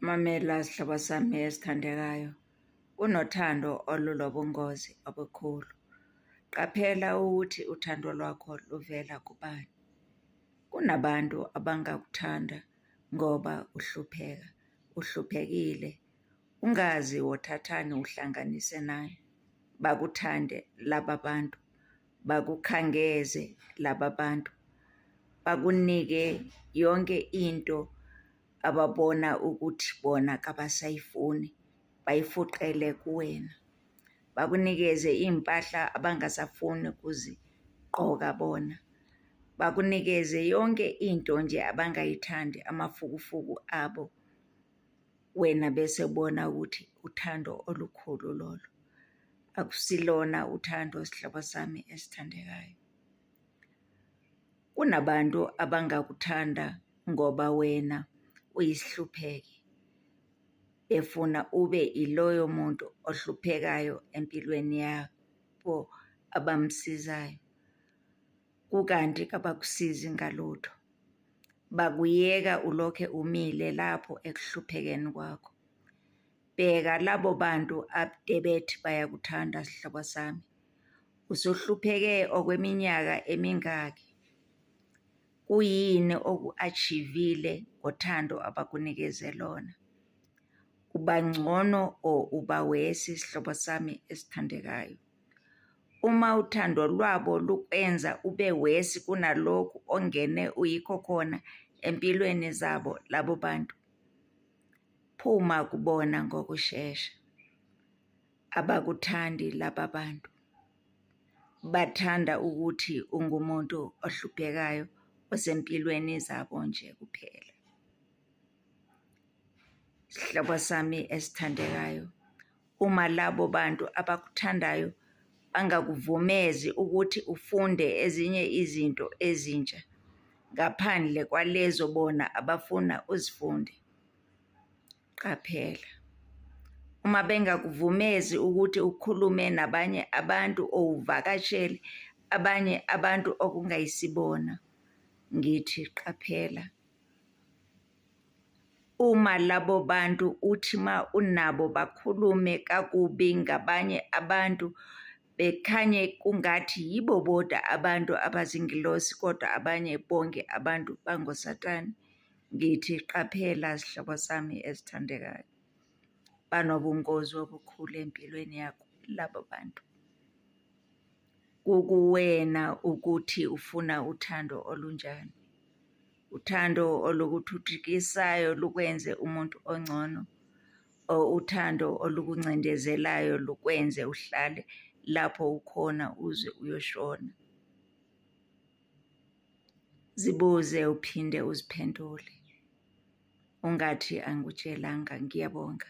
Mamela sihlobo sami esithandekayo, unothando olunobungozi obukhulu. Qaphela ukuthi uthando lwakho luvela kubani. Kunabantu abangakuthanda ngoba uhlupheka, uhluphekile, ungazi wothathani uhlanganise nani, bakuthande laba bantu. bakukhangeze laba bantu bakunike yonke into ababona ukuthi bona kabasayifuni bayifuqele kuwena bakunikeze iy'mpahla abangasafuni ukuzigqoka bona bakunikeze yonke into nje abangayithandi amafukufuku abo wena bese bona ukuthi uthando olukhulu lolo akusilona uthando sihlobo sami esithandekayo. Kunabantu abangakuthanda ngoba wena uyisihlupheki, befuna ube iloyo muntu ohluphekayo empilweni yabo abamsizayo, kukanti kabakusizi ngalutho. Bakuyeka ulokhe umile lapho ekuhluphekeni kwakho. Bheka labo bantu abdebet bayakuthanda sihlobo sami usuhlupheke okweminyaka emingaki kuyini oku achivile ngothando abakunikeze lona ubangcono or ubawesi sihlobo sami esithandekayo uma uthando lwabo lukwenza ube wesi kunalokhu ongene uyikho khona empilweni zabo labo bantu Phuma kubona ngokushesha. Abakuthandi laba bantu. Bathanda ukuthi ungumuntu ohluphekayo osempilweni zabo nje kuphela. Sihlobo sami esithandekayo, Uma labo bantu abakuthandayo bangakuvumezi ukuthi ufunde ezinye izinto ezintsha ngaphandle kwalezo bona abafuna uzifunde, qaphela. Uma bengakuvumezi ukuthi ukhulume nabanye abantu or uvakashele abanye abantu okungayisibona, ngithi qaphela. Uma labo bantu uthi uma unabo bakhulume kakubi ngabanye abantu, bekhanye kungathi yibo bodwa abantu abazingilosi kodwa abanye bonke abantu bangoSatane, ngithi qaphela zihlobo zami ezithandekayo. Banobungozi obukhulu empilweni yakho labo bantu. Kukuwena ukuthi ufuna uthando olunjani. Uthando olukuthuthukisayo lukwenze umuntu ongcono, o uthando olukuncindezelayo lukwenze uhlale lapho ukhona uze uyoshona. Zibuze uphinde uziphendule. Ungathi angikutshelanga. Ngiyabonga.